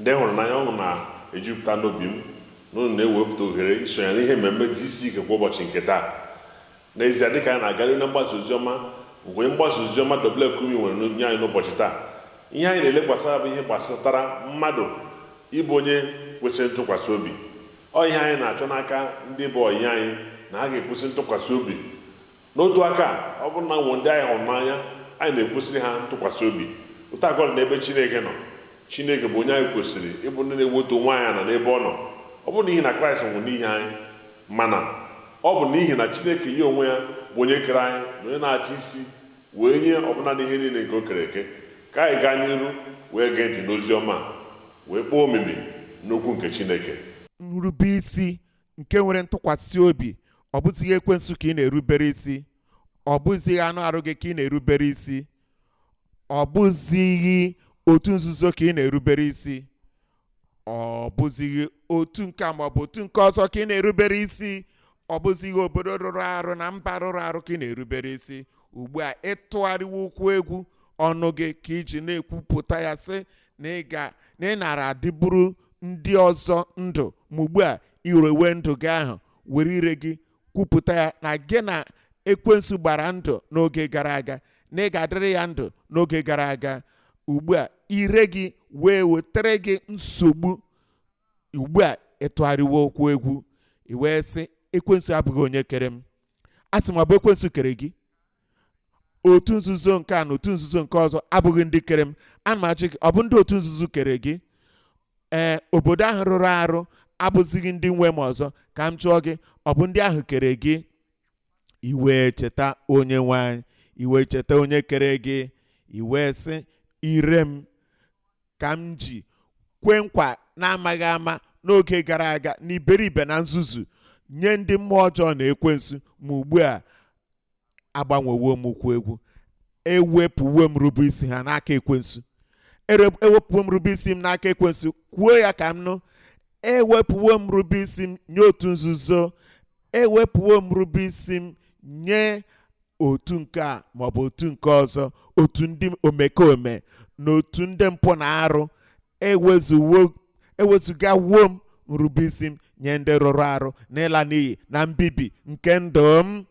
ndị hụrụ n'anya ọṅụ na-ejupụta n'obi m na unu na-ewepụta ohere isonye n'ihe mmemme GCK kwa ụbọchị nke taa n'ezie dịka anyị na-aga n'iru na mgbasa oziọma nke onye mgbasa oziọma W. Kumuyi nwere nye anyị n'ụbọchị taa ihe anyị na-elekwasa anya bụ ihe gbasatara mmadụ ịbụ onye kwesịrị ntụkwasị obi ọ ihe anyị na-achọ n'aka ndị bụ ọyị anyị na ha ga-ekwesị ntụkwasị obi N'otu aka a, ọ bụrụ na e nwee ndị anyị hụrụ n'anya, anyị na-ekwesịrị ha ntụkwasị obi. Otu a ka ọ dị n'ebe Chineke nọ. Chineke bụ onye anyị kwesịrị ịbụ ndị na-ewetu onwe anyị ala n'ebe ọ nọ. Ọ bụghị n'ihi na Kraịst nwụrụ n'ihi anyị. Mana, ọ bụ n'ihi na Chineke ya onwe ya, bụ onye kere anyị na onye na-achị isi, wee nye ọbụna n'ihe niile nke o kere eke. Ka anyị gaa n'iru wee gee ntị n'ozi ọma a, wee kpọọ omimi n'okwu nke Chineke. Nrubeisi nke nwere ntụkwasị obi ọ bụzighị ekwensu ka ị na-erubere isi ọ bụzighị anụ arụ gị ka ị na-erubere isi ọ bụzighị otu nzuzo ka ị na-erubere isi ọ bụzighị otu nke ma ọ bụ otu nke ọzọ ka ị na-erubere isi ọ bụzighị obodo rụrụ arụ na mba rụrụ arụ ka ị na-erubere isi ugbu a ị tụgharịwo ụkwụ egwu ọnụ gị ka i ji na-ekwupụta ya sị na ị nara adịburu ndị ọzọ ndụ ma ugbu a irewe ndụ gị ahụ were ire gị kwupụta ya na gị na ekwensu gbara ndụ n'oge gara aga na ị ga-adịrị ya ndụ n'oge gara aga ugbu a ire gị wee wetara gị nsogbu ugbu a ị tụgharịwo ụkwụ egwu i wee sị ekwensu abụghị onye kere m asị m ọ bụ ekwensu kere gị otu nzuzo nke a na otu nzuzo nke ọzọ abụghị ndị kere m ana m ajụ gị ọ bụ ndị otu nzuzo kere gị ee obodo ahụ rụrụ arụ abụzighị ndị nwe m ọzọ ka m jụọ gị ọ bụ ndị ahụ kere gị i wee cheta onye nwe anyị i wee cheta onye kere gị i wee sị ire m ka m ji kwee nkwa n'amaghị ama n'oge gara aga na iberibe na nzuzu nye ndị mmụọ ọjọọ na ekwensu ma ugbu a agbanwewo m ụkwụ egwu ewepụwo m nrubeisi ha n'aka ekwensu Ere- ewepụwo m nrubeisi m n'aka ekwensu kwuo ya ka m nụ ewepụwo m nrubeisi m nye otu nzuzo ewepụwo m nrubeisi m nye otu nke a maọbụ otu nke ọzọ otu ndị omekome na otu ndị mpụ na arụ ewezuwo ewezugawo m nrubeisi m nye ndị rụrụ arụ na ịla n'iyi na mbibi nke ndụ m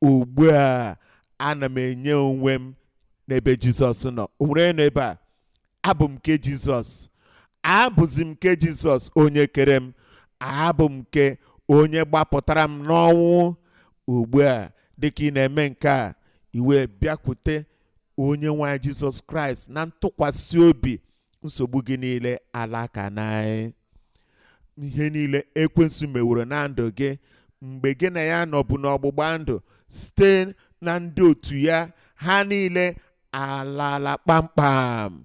ugbu a ana m enye onwe m n'ebe jizọs nọ o nwere onye nọ ebe a abụ m nke jizọs abụzi m nke jizọs onye kere m abụ m nke onye gbapụtara m n'ọnwụ ugbu a dịka ị na-eme nke a i wee bịakwute onye nwe anyị jizọs kraịst na ntụkwasị obi nsogbu gị niile alaka na ihe niile ekwensu meworo na ndụ gị mgbe gị na ya nọbụ n'ọgbụgba ndụ site na ndị otu ya ha niile alala kpamkpam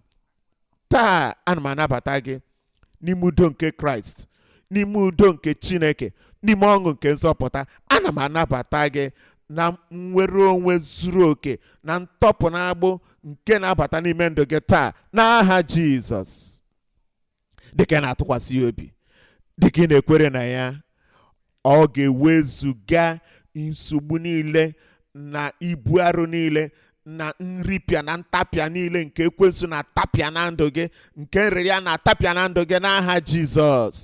taa ana m anabata gị n'ime udo nke kraịst n'ime udo nke chineke n'ime ọṅụ nke nzọpụta ana m anabata gị na nnwere onwe zuru oke na ntọpụ na agbụ nke na-abata n'ime ndụ gị taa n'aha jizọs dịka ị na-atụkwasị ya obi dịka ị na-ekwere na ya ọ ga-ewezuga nsogbu niile na ibu arụ niile na nripịa na ntapịa niile nke ekwensu na-atapịa na ndụ gị nke nrịrịa na-atapịa na ndụ gị n'aha Jizọs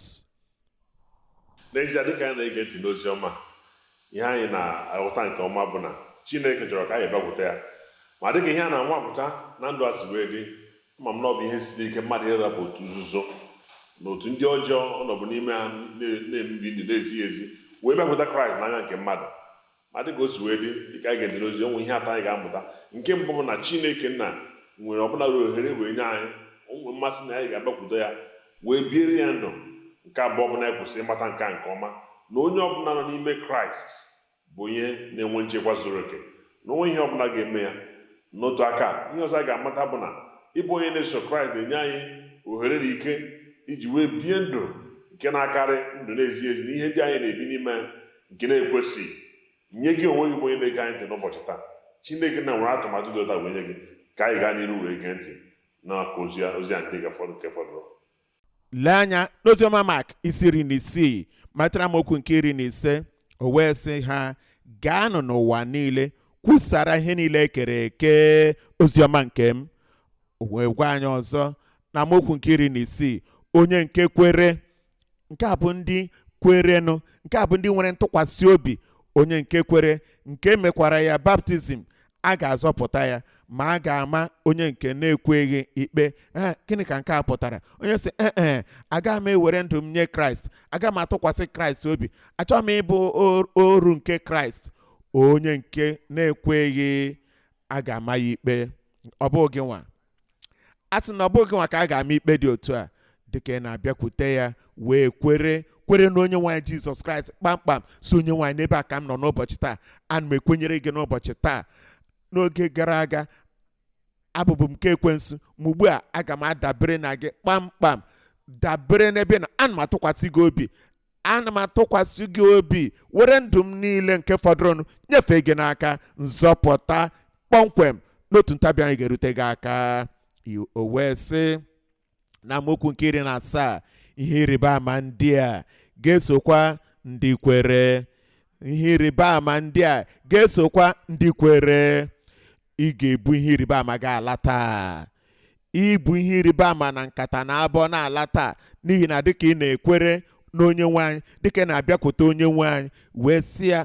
n'ezie dịka anyị na-ege ntị n'ozi ọma ihe anyị na-aghọta nke ọma bụ na chineke chọrọ ka anyị bịakwute ya ma dịka ihe a na-anwapụta na ndụ a si wee dị ma m na ọ bụ ihe siri ike mmadụ ịrapụ otu nzuzo na otu ndị ọjọọ ọ nọbụ n'ime ha na- na-ebi ndụ na-ezighị ezi wee bịakwuta kraịst n'anya nke mmadụ ma dịka o si wee dị dịka anyị na-ege ntị n'ozi o nwere ihe atọ anyị ga-amụta nke mbụ bụ na chineke nna nwere ọbụla ruo ohere wee nye anyị o nwere mmasị na anyị ga-abịakwute ya wee biere ya ndụ nke abụọ bụ na anyị kwesị ịmata nke a nke ọma na onye ọbụla nọ n'ime kraịst bụ onye na-enwe nchekwa zuru oke na o nweghị ihe ọbụla ga-eme ya n'otu aka ihe ọzọ a ga-amata bụ na ịbụ onye na-eso kraịst na-enye anyị ohere na ike iji wee bie ndụ nke na-akarị ndụ na-ezighị ezi na ihe ndị anyị na-ebi n'ime ya nke na-ekwesịghị nye gị onwe gị bụ onye na-ege anyị ntị n'ụbọchị taa chineke nna nwere atụmatụ dị otu a wee nye gị ka anyị gaa n'iru wee gee ntị na ozi a ndị nke fọdụrụ lee anya n'oziọma mak isi iri na isii malite na amaokwu nke iri na ise o wee sị ha gaanụ n'ụwa niile kwusara ihe niile ekere eke oziọma nke m o wee gwa anyị ọzọ na amaokwu nke iri na isii onye nke kwere nke a bụ ndị kwerenụ nke a bụ ndị nwere ntụkwasị obi onye nke kwere nke e mekwara ya baptizim a ga-azọpụta ya ma a ga-ama onye nke na-ekweghị ikpe ee gịnị ka nke a pụtara onye sị ee ee agaghị m ewere ndụ m nye kraịst agaghị m atụkwasị kraịst obi achọghị m ịbụ or- oru nke kraịst onye nke na-ekweghị a ga-ama ya ikpe ọ bụghị gị nwa asị m na ọ bụghị gị nwa ka a ga-ama ikpe dị otu a dịka ị na-abịakwute ya wee kwere kwere na onyenwe anyị jizọs kraịst kpamkpam sị onyenwe anyị n'ebe a ka m nọ n'ụbọchị taa ana m ekwenyere gị n'ụbọchị taa n'oge gara aga abụbụ m nke ekwensu ma ugbu a aga m adabere na gị kpamkpam dabere n'ebe ị nọ ana m atụkwasị gị obi ana m atụkwasị gị obi were ndụ m niile nke fọdụrụnụ nyefee gị n'aka nzọpụta kpọmkwem n'otu ntabi anya ga-erute gị aka o wee sị na amaokwu nke iri na asaa ihe ịrịba ama ndị a ga-esokwa ndị kwere ihe ịrịba ama ndị a ga-esokwa ndị kwere ị ga-ebu ihe ịrịba ama gị ala taa ị bu ihe ịrịba ama na nkata na abọ na-ala taa n'ihi na dịka ị na-ekwere n'onye nwe anyị dịka ị na-abịakwute onye nwe anyị wee sị ya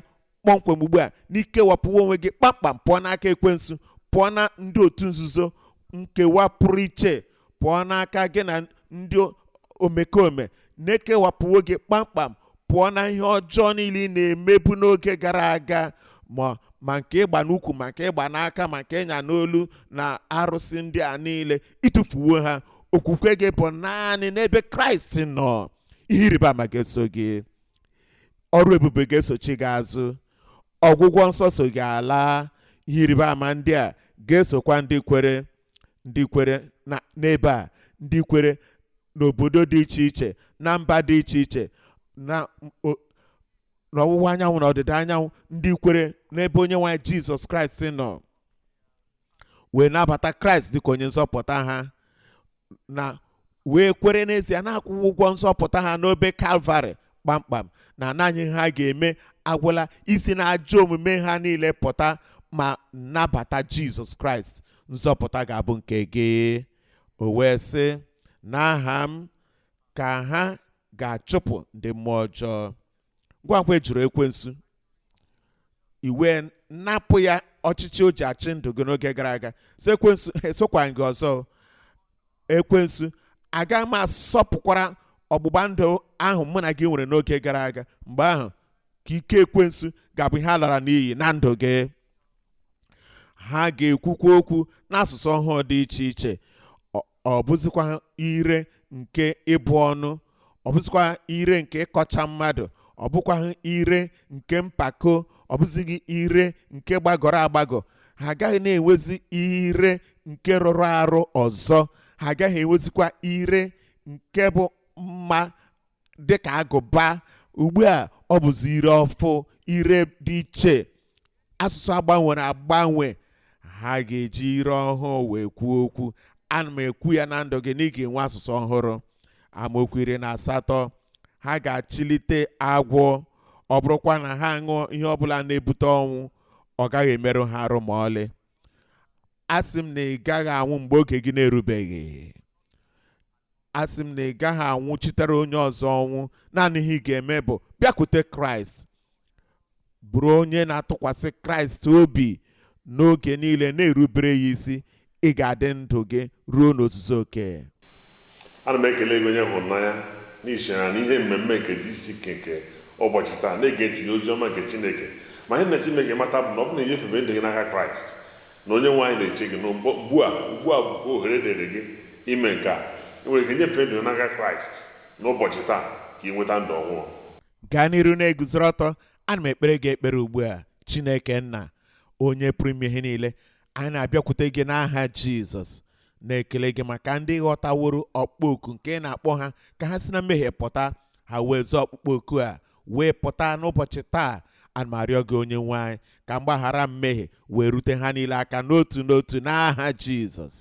kpọmkwem ugbu a na i kewapụwo onwe gị kpamkpam pụọ n'aka ekwensu pụọ na ndị otu nzuzo nkewa pụrụ iche pụọ n'aka gị na ndị omekome na e kewapụwo gị kpamkpam pụọ na ihe ọjọọ niile ị na-emebu n'oge gara aga ma nke ị gba n'ukwu ma nke ị gba n'aka ma nke ị nya n'olu na arụsị ndị a niile ị tụfuwo ha okwukwe gị bụ naanị n'ebe kraịst nọ ihe ịrịba ama ga-eso gị ọrụ ebube ga-esochi gị azụ ọgwụgwọ nsọ so gị ala ihe ịrịba ama ndị a ga-esokwa ndị kwere ndị kwere n'ebe a ndị kwere n'obodo dị iche iche na mba dị iche iche na ọwụwa anyanwụ na ọdịda anyanwụ ndị kwere n'ebe onye nwe anyị jizọs kraịst nọ wee nabata kraịst dịka onye nzọpụta ha na wee kwere n'ezie na a kwụwo ụgwọ nzọpụta ha n'obe kalvarị kpamkpam na naanị ihe ha ga-eme agwụla isi na ajọ omume ha niile pụta ma nabata jizọs kraịst nzọpụta ga-abụ nke gị o wee sị n'aha m ka ha ga-achụpụ ndị mmụọ ọjọọ ngwa ngwa ị jụrụ ekwensu i wee napụ ya ọchịchị o ji achị ndụ gị n'oge gara aga sị ekwensu esokwa gị ọzọ ekwensu aga m asọpụkwara ọgbụgba ndụ ahụ mụ na gị nwere n'oge gara aga mgbe ahụ ka ike ekwensu ga-abụ ihe a lara n'iyi na ndụ gị ha ga-ekwukwa okwu n'asụsụ ọhụụ dị iche iche ọ bụzikwaghị ire nke ịbụ ọnụ ọ bụzikwaghị ire nke ịkọcha mmadụ ọ bụkwaghị ire nke mpako ọ bụzighị ire nke gbagọrọ agbagọ ha agaghị na-enwezi ire nke rụrụ arụ ọzọ ha agaghị enwezikwa ire nke bụ mma dịka agụba ugbu a ọ bụzi ire ọfụụ ire dị iche asụsụ a gbanwere agbanwe ha ga-eji ire ọhụụ wee kwuo okwu ana m ekwu ya na ndụ gị na ị ga-enwe asụsụ ọhụrụ amaokwu iri na asatọ ha ga-achịlite agwọ ọ bụrụkwa na ha ṅụọ ihe ọbụla na-ebute ọnwụ ọ gaghị emerụ ha arụ ma ọlị asị m na ị gaghị anwụ mgbe oge gị na-erubeghị asị m na ị gaghị anwụchitere onye ọzọ ọnwụ naanị ihe ị ga-eme bụ bịakwute kraịst bụrụ onye na-atụkwasị kraịst obi n'oge niile na-erubere ya isi ị ga-adị ndụ gị ruo n'ozuzu oke ana m ekele gị onye hụrụ n'anya n'ihi na n'ihe mmemme nke GCK nke ụbọchị taa na-ege ntị n'ozi ọma nke chineke ma ihe m na-achọ ka ị mata bụ na ọ bụ na inyefebe ndụ gị n'aka kraịst Na Onyenwe anyị na-eche gị n'ugbu a. Ugbu a bụkwa ohere dịrị gị ime nke a. I nwere ike nyefee ndụ gị n'aka Kraịst n'ụbọchị taa ka ị nweta ndụ ọhụụ. Gaa n'iru na-eguzoro ọtọ. Ana m ekpere gị ekpere ugbu a. Chineke Nna, Onye pụrụ ime ihe niile, anyị na-abịakwute gị n'aha Jizọs, na-ekele gị maka ndị ghọtaworo ọkpụkpọ oku nke ị na-akpọ ha ka ha si na mmehie pụta, ha wee zaa ọkpụkpọ oku a wee pụta n'ụbọchị taa ana m arịọ gị onye nwe anyị ka mgbaghara mmehie wee rute ha niile aka n'otu n'otu n'aha jizọs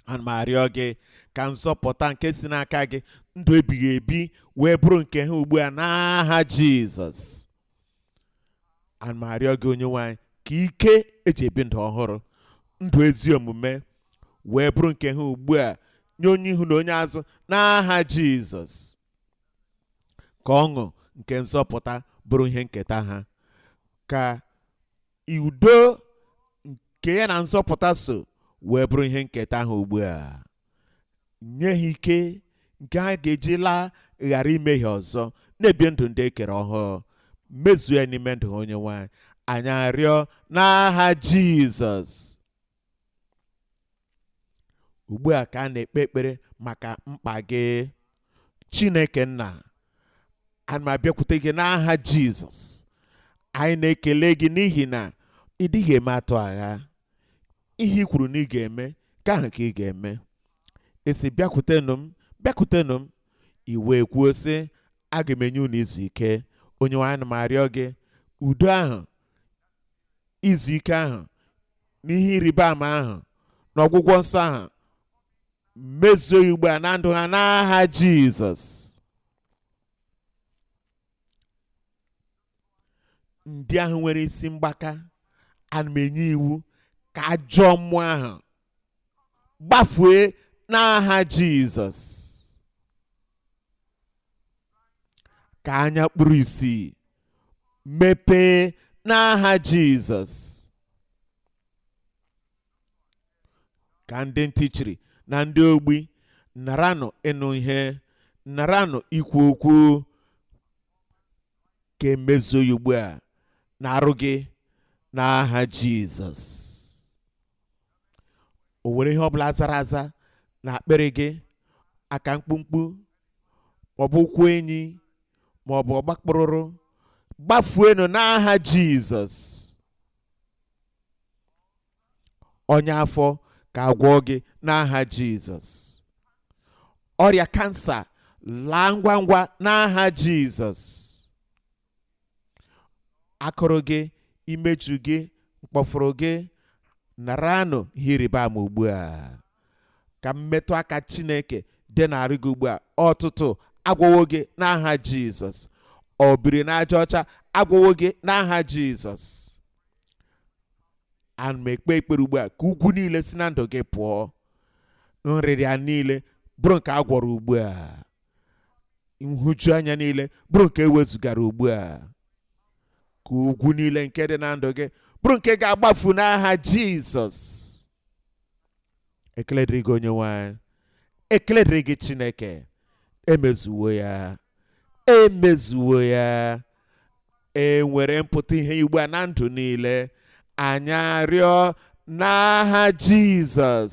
ana m arịọ gị ka nzọpụta nke si n'aka gị ndụ ebighị ebi wee bụrụ nke ha ugbu a n'aha jizọs ana m arịọ gị onye nwe anyị ka ike e ji ebi ndụ ọhụrụ ndụ ezi omume wee bụrụ nke ha ugbu a nye onye ihu na onye azụ n'aha jizọs ka ọṅụ nke nzọpụta bụrụ ihe nketa ha ka udo nke ya na nzọpụta so wee bụrụ ihe nketa ha ugbu a nye ha ike nke ha ga-eji laa ghara imehie ọzọ na-ebi ndụ ndị e kere ọhụụ mezuo ya n'ime ndụ ha onye nwe anyị anyị arịọ n'aha jizọs ugbu a ka a na-ekpe ekpere maka mkpa gị chineke nna ana m abịakwute gị n'aha jizọs anyị na-ekele gị n'ihi na ị dịghị eme atụ agha ihe i kwuru na ị ga-eme nke ahụ ka ị ga-eme ị sị bịakwutenụ m bịakwutenụ m i wee kwuo sị aga m enye unu izu ike onye nwe anyị ana m arịọ gị udo ahụ izu ike ahụ na ihe ịrịba ama ahụ na ọgwụgwọ nsọ ahụ mezuo ya ugbu a na ndụ ha n'aha Jizọs ndị ahụ nwere isi mgbaka ana m enye iwu ka ajọ mmụọ ahụ gbafue n'aha jizọs ka anya kpuru isi mepee n'aha jizọs ka ndị ntị chiri na ndị ogbi naranụ ịnụ ihe naranụ ikwu okwu ka e mezuo ya ugbu a n'arụ gị n'aha jizọs o nwere ihe ọbụla zara aza na akpịrị gị aka mkpumkpu maọbụ ụkwụ enyi maọbụ ọgbakpụrụrụ gbafuenụ n'aha jizọs ọnya afọ ka agwọ gị n'aha jizọs ọrịa kansa laa ngwa ngwa n'aha jizọs akụrụ gị imeju gị mkpọfụrụ gị naranụ ihe ịrịba ama ugbu a ka mmetụ aka chineke dị n'arụ gị ugbu a ọtụtụ agwọwo gị n'aha jizọs obiri n'aja ọcha agwọwo gị n'aha jizọs ana m ekpe ekpere ugbu a ka ugwu niile si na ndụ gị pụọ nrịrịa niile bụrụ nke a gwọrọ ugbu a nhụjuanya niile bụrụ nke ewezugara ugbu a ka ugwu niile nke dị na ndụ gị bụrụ nke ga-agbafu n'aha jizọs ekele dịrị gị onyenwe anyị ekele dịrị gị chineke emezuwo ya emezuwo ya e nwere mpụta ihe ugbu a na ndụ niile anyị arịọ n'aha jizọs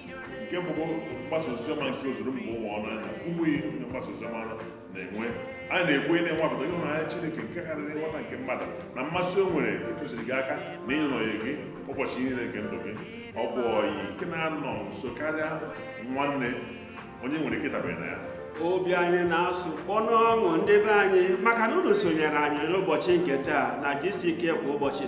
nke bụ mgbasa oziọma nke ozuru mba ụwa ọnụ anyị na Kumuyi onye mgbasa oziọma na-enwe anyị na-ekwu ị na-enwapụta ịhụnanya Chineke nke karịrị nghọta nke mmadụ na mmasị o nwere ịtụziri gị aka na ịnọnyere gị ụbọchị niile nke ndụ gị ọ bụ ọyị nke na-anọ nso karịa nwanne onye nwere ike ịdabere na ya obi anyị na-asụ kpọ n'ọṅụ ndị be anyị maka na unu sonyere anyị n'ụbọchị nke taa na gck kwa ụbọchị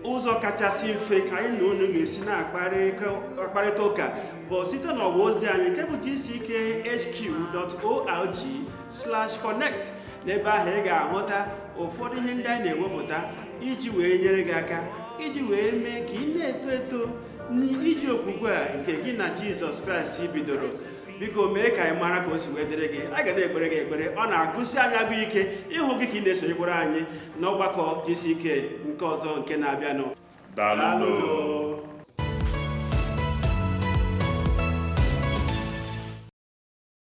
ụzọ kachasị mfe anyị na unu ga-esi na-akparịta ụka bụ site n'ọwa ozi anyị nke bụ gckhq.org/connect n'ebe ahụ ị ga-ahụta ụfọdụ ihe ndị anyị na-ewepụta iji wee nyere gị aka iji wee mee ka ị na-eto eto n'ije okwukwe a nke gị na jizọs kraịst bidoro biko mee ka anyị mara ka o si wee dịrị gị a ga na-ekpere gị ekpere ọ na-agụsi anyị agụ ike ịhụ gị ka ị na-esonyekwara anyị n'ọgbakọ gck nke ọzọ nke na-abịanụ daalụ